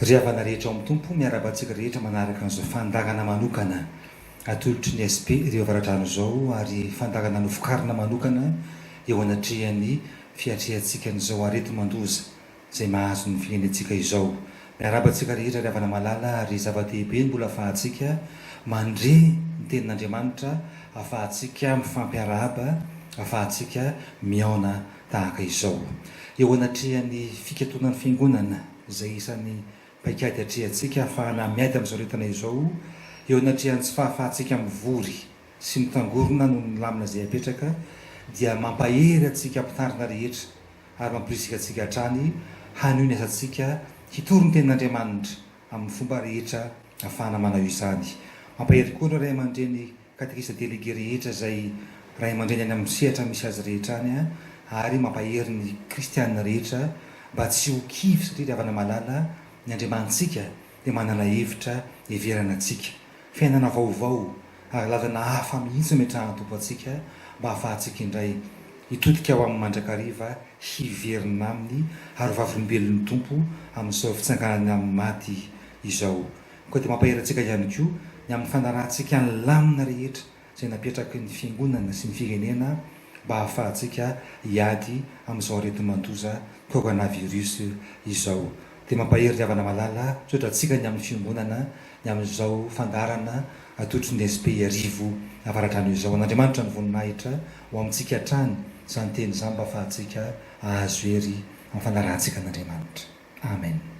Ry havana rehetra ao amin'ny Tompo, miarahaba antsika rehetra manaraka an'izao fandaharana manokana atolotry ny SP Rio Avaradrano izao ary fandaharana novokarina manokana eo anatrehan'ny fiatrehantsika an'izao areti-mandoza izay mahazo ny firenentsika izao. Miarahaba antsika rehetra ry havana malala ary zava-dehibe ny mbola ahafahantsika mandre ny tenin'Andriamanitra, ahafahantsika mifampiarahaba, ahafahantsika mihaona tahaka izao eo anatrehan'ny fikatonan'ny Fiangonana. izay isan'ny paikady atrehantsika hahafahana miady amin'izao aretina izao eo anatrehan'ny tsy fahafahantsika mivory sy mitangorona noho ny lamina izay apetraka dia mampahery antsika mpitandrina rehetra ary mampirisika antsika hatrany hanohy ny asantsika hitory ny tenin'Andriamanitra amin'ny fomba rehetra ahafahana manao izany. Mampahery koa ireo ray aman-dreny Katekista Délégué rehetra izay Ray aman-dReny any amin'ny sehatra misy azy rehetra any ary mampahery ny Kristiana rehetra mba tsy ho kivy satria ry havana malala ny Andriamanitsika dia manala hevitra heverana antsika, fiainana vaovao ary lalana hafa mihitsy nometrahan'ny Tompo antsika mba hahafahantsika indray hitodika ho Aminy mandrakariva hiverina Aminy ary ho vavolombelon'ny Tompo amin'izao fitsanganany amin'ny maty izao. Koa dia mampahery antsika ihany koa ny amin'ny fanarahantsika ny lamina rehetra izay napetraky ny Fiangonana sy ny firenena mba hahafahantsika hiady amin'izao areti-mandoza coronavirus izao. Dia mampahery ry havana malala, misaotra antsika ny amin'ny Fiangonana ny amin'izao fandaharana atolotry ny SP Iarivo Avaradrano izao. An'Andriamanitra ny voninahitra ho amintsika hatrany izany teny izany mba hahafahantsika hahazo hery amin'ny fanarahantsika an'Andriamanitra. Amen.